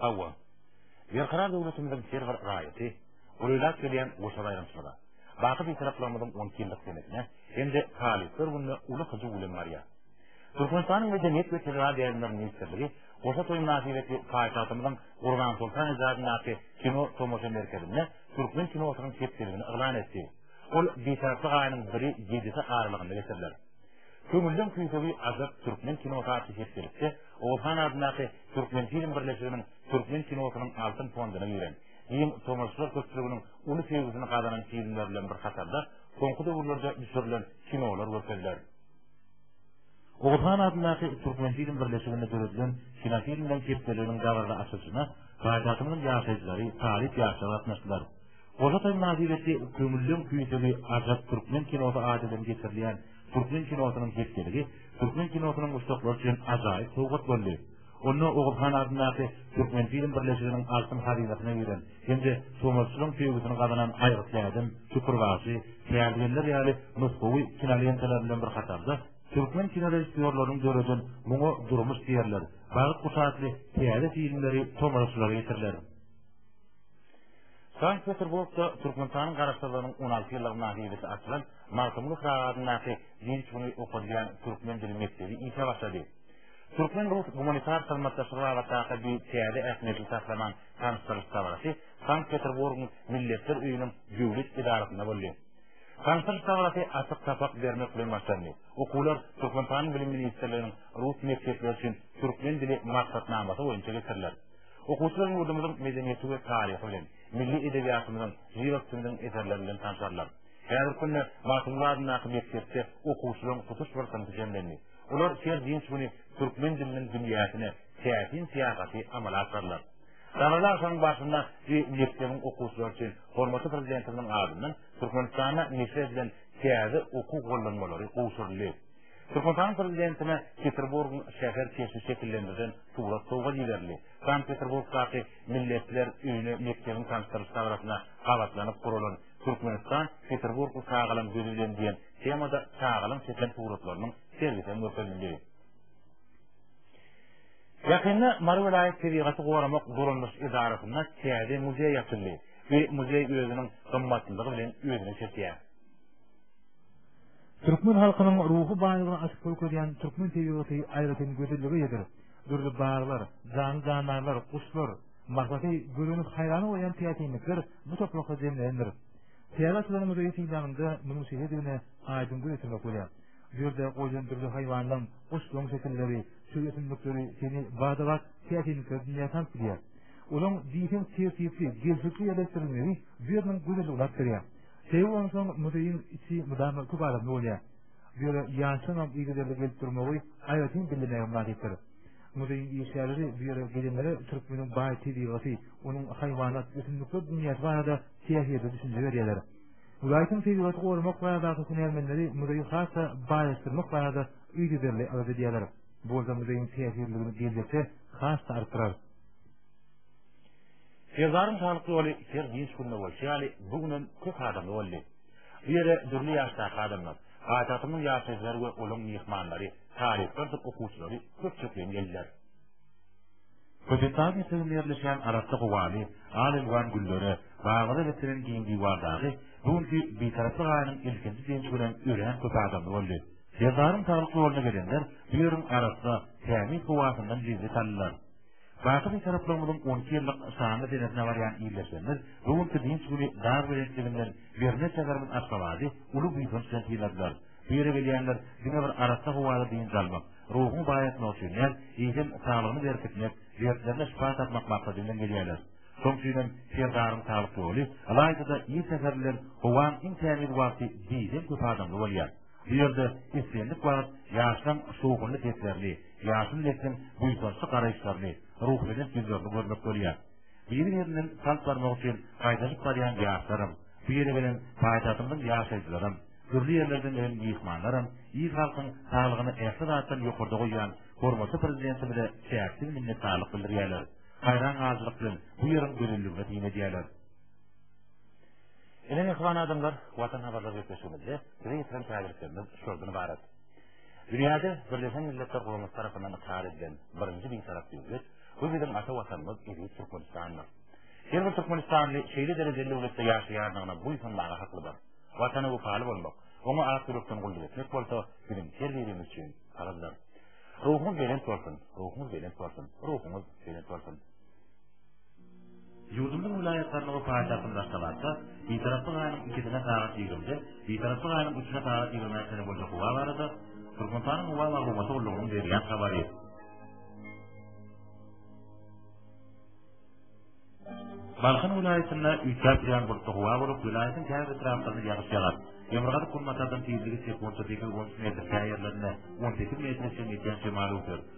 Hawa, berkarar döwletimiziň her bir raýaty gurulap gelýän goşa baýramçylyga, baky Bitaraplarymyzyň on iki ýyllyk senesine hem-de Talyplar gününe uly hyjuw bilen barýar. Türkmenistanyň Medeniýet we tebigat ýaýlymlary ministrligi goşa toýy mynasybetli paýtagtymyzyň Gurbansoltan etrabyndaky kino tomaşa merkezinde türkmen kinosynyň hepdeligini yglan etdi. Ol Bitaraplyk aýynyň biri-ýedisi aralygynda geçiriler. Köňülleň küýsegi Ajap türkmen kinosy atly hepdelikde Oguzhan adyndaky Türkmenfilm birleşiginiň türkmen kinosynyň altyn fonduna giren, giň tomaşaçylar köpçüliginiň uly söýgüsini gazanan filmler bilen bir hatarda soňky döwürlerde düşürilen kinolar görkeziler. Oguzhan adyndaky Türkmenfilm birleşiginde döredilen kinofilmler hepdeliginiň dabaraly açylyşyna paýtagtymyzyň ýaşaýjylary, talyp ýaşlar gatnaşdylar. Goja toýuň nazybeti Köňülleň tüýsegi ajap türkmen kinosy adydan geçirilýän türkmen kinosynyň hepdeligi türkmen kinosynyň muşdaklary üçin ajaýyp sowgat boldy. Onda Oguz han adyndaky Türkmenfilm birleşiginiň altyn hazynasyna giren hem-de tomaşçylaryň söýgüsini gazanan Aýgyt bädem, Şükür bagşy, Kärdegenler ýaly nusgawy kinolentalar bilen bir hatarda, türkmen kinorežissýorlarynyň döreden Muňa durmuş diýerler, Bagt guşy atly täze filmleri tomaşaçylara ýetiriler. Sankt-Peterburgda Türkmenistanyň Garaşsyzlygynyň on alty ýyllygy mynasybetli açylan Magtymguly Pyragy adyndaky giň çuňy okadylýan türkmen dili mekdebi işe başlady. Türkmen-rus gumanitar hyzmatdaşlygy babatdaky bu täze ähmiýetli taslamaň tanyşdyryş dabarasy Sankt-Peterburgyň Milletler öýüniň döwlet edarasynda boldy. Tanyşdyryş dabarasy açyk sapak bermek bilen başlandy. Okuwlar Türkmenistanyň Bilim ministrliginiň rus mekdepleri üçin türkmen dili maksatnamasy boýunça geçiriler. Okuwçylar ýurdumyzyň medeniýeti we taryhy bilen, milli edebiýatymyzyň jyrak sümüniň eserleri bilen tanşarlar. Häzirki günde Magtymguly adyndaky mekdepde okuwçylaryň tutuş bir synpy jemlendi. Olar her dynç güni türkmen diliniň dünýäsine täsin syýahaty amala aşyrarlar. Sanaly agşamyň barşynda we mekdebiň okuwçylary üçin hormatly Prezidentimiziň adyndan Türkmenistanda neşir edilen täze okuw gollanmalary gowşuryldy. Türkmenistan prezidentine Peterburgyň şäher keşbi şekillendirilen surat sowgat iberildi. Sankt-Peterburgdaky Milletler öýüne mekdebiň tanyşdyryş dabarasyna gabatlanyp guralan Türkmenistan Peterburgy çagalam gözi bilen diýen temada çagalaň çeken suratlarynyň sergisi hem görkezildi. Ýakynda Mary welaýat tebigaty goramak dolandyryş edarasynda täze muzeý açyldy we muzeý özüniň gymmatlylygy bilen özüne çekýär. Türkmen halkynyň ruhy baýlygyny açyp görkezýän türkmen tebigaty aýratyn gözellige ýetirip, dürli baglar, janly-jandarlar, guşlar, mahlaty görenip haýran bolýan täsinlikler bu toprakda jemlenendir. Täze açylan muzeý synlanyňda munuň şeýledigine aýdyň göz ýetirmek bolýar. Bu ýerde goýlan dürli haýwanlaryň, guşlaryň şekilleri, çöl ösümlikleri seni bada-bat täsinliklere dünýä salyp gidýär. Olaryň diýseň tertipli, gelşikli ýerleşdirilmegi bu ýeriň gözelligini artdyrýar. Şeýle bolansoň, muzeýiň içi mydama köp adamly bolýar. Bu ýere ýaşlaryňam yzygiderli gelip durmagy aýratyn bellemegem wajypdyr. Muzeýiň işgärleri bu ýere gelenlere türkmeniň baý tebigaty, onuň haýwanat, ösümlikler dünýäsi barada täsirli düşünje berýärler. Welaýatyň tebigaty goramak baradaky hünärmenleri muzeýi has-da baýlaşdyrmak barada yzygiderli alada edýärler. Bu bolsa muzeýiň täsirliligini geljekde has-da artdyrar. Serdaryň saglyk ýoly her dynç günde bolşy ýaly, bu gün hem köp adamly boldy. Bu ýere dürli ýaşdaky adamlar, paýtagtymyzyň ýaşaýjylary we olaryň myhmanlary, talyplardyr okuwçylary köpçekleýin geldiler. Köpetdagyň eteginde ýerleşýän arassa howaly, al-elwan güllere, baglary beslenen giň diwar dagy bu günki Bitaraplyk aýynyň ilkinji dynç günem örän köp adamly boldy. Serdaryň saglyk ýoluna gelenler bu ýeriň arassa, tämiz howasyndan lezzet aldylar. Baky Bitaraplarymyzyň on iki ýyllyk şanly senesine barýan ildeşlerimiz bu günki dynç güni dag belentligin den birine şäherimiz Aşgabady uly buýsanç bilen syladylar. Bu ýere gelýänler diňe bir arassa howada dynç almak, ruhuny baýatmak üçin däl, eýsem saglygyny berkitmek, dertlerine şypa tapmak maksady bilen gelýärler. Şoň üçin hem Serdaryň saglyk ýoly, ylaýta-da ir säher bilen howaň iň tämiz wagty diýseň köp adamly bolýar. Bu ýerde islendik wagt ýaşlaň şowhunly seslerini, ýaşuly nesliň buýsançly garaýyşlaryny, ruhubelent ýüzlerini görmek bolýar. Biri-birinden salt barmak üçin gaýdanyp barýan ýaşlaram, bu ýere gelen paýtagtymyzyň ýaşaýjylaram, dürli ýerlerden gelen myhmanlaram il-halkyň saglygyny ähli zatdan ýokarda goýýan hormatly Prezidentimize çäksiz minnetdarlyk bildirýärler, haýran galyjylyk bilen bu ýeriň gözelligine syn edýärler. Ine mähriban adamlar, Watan habarlar gepleşigimizde size getiren täzeliklerimiz şoldan ybarat. Dünýäde Birleşen Milletler Guramasy tarapyndan ykrar edilen birinji bitarap döwlet, bu biziň ata Watanymyz eziz Türkmenistandyr. Her bir türkmenistanly şeýle derejeli döwletde ýaşaýandygyna buýsanmaga haklydyr. Watana wepaly bolmak, oňa ak ýürekden gulluk etmek bolsa biziň her birimiz üçin parzdyr. Ruhuňyz belent bolsun, ruhuňyz belent bolsun, ruhuňyz belent bolsun. Ýurdumyzyň welaýatlarynda we paýtagtymyz Aşgabatda Bitaraplyk aýynyň ikisine sagat ýigrimi, Bitaraplyk aýynyň üçüne sagat ýigrimi bäş sany boýunça howa barada Türkmenistanyň howa maglumaty gullugynyň berýän habary. Balkan welaýatynda üýtgäp durýan bulutly howa bolup, welaýatyň käbir etraplarynda ýagyş ýagar. Demirgazyk günbatardan tizligi sekuntda sekiz on üç metr, käýerlerinde on sekiz metre çenli ýetýän şemal öwser.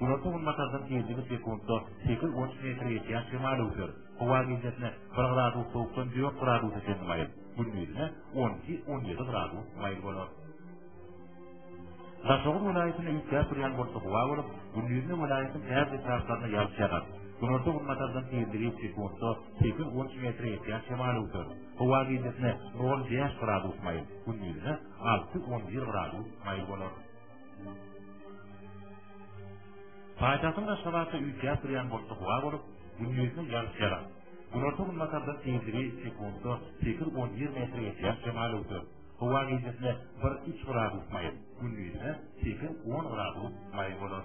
Günorta günbatardan ýedi sekuntda sekiz otuz metre geçýän şemal öwser. Howa gijesine bir gradus sowukdan dört gradusa çenli maýyl, gündizine on iki, on ýedi gradus maýyl bolar. Daşoguz welaýatyny üýtgäp durýan bolsa howa bolup, gündizine welaýatyň äz etraplarynda ýagyş ýagar. Günorta günbatardan tizligi sekuntda 8-13 metre ýetýän şemal öwser. Howa gijesine 0-5 gradus maýyl, gündizine 6-11 gradus maýyl bolar. Paýtagtyň Aşgabatda üýtgäp durýan bolsa howa bolup, gündiziň ýagyş ýagar. Günorta günbatarda tizligi sekuntda sekiz-on bir metre ýetýän şemal öwser. Howa gijesi bir-üç gradus maýyl, gündizine sekiz-on gradus maýyl bolar.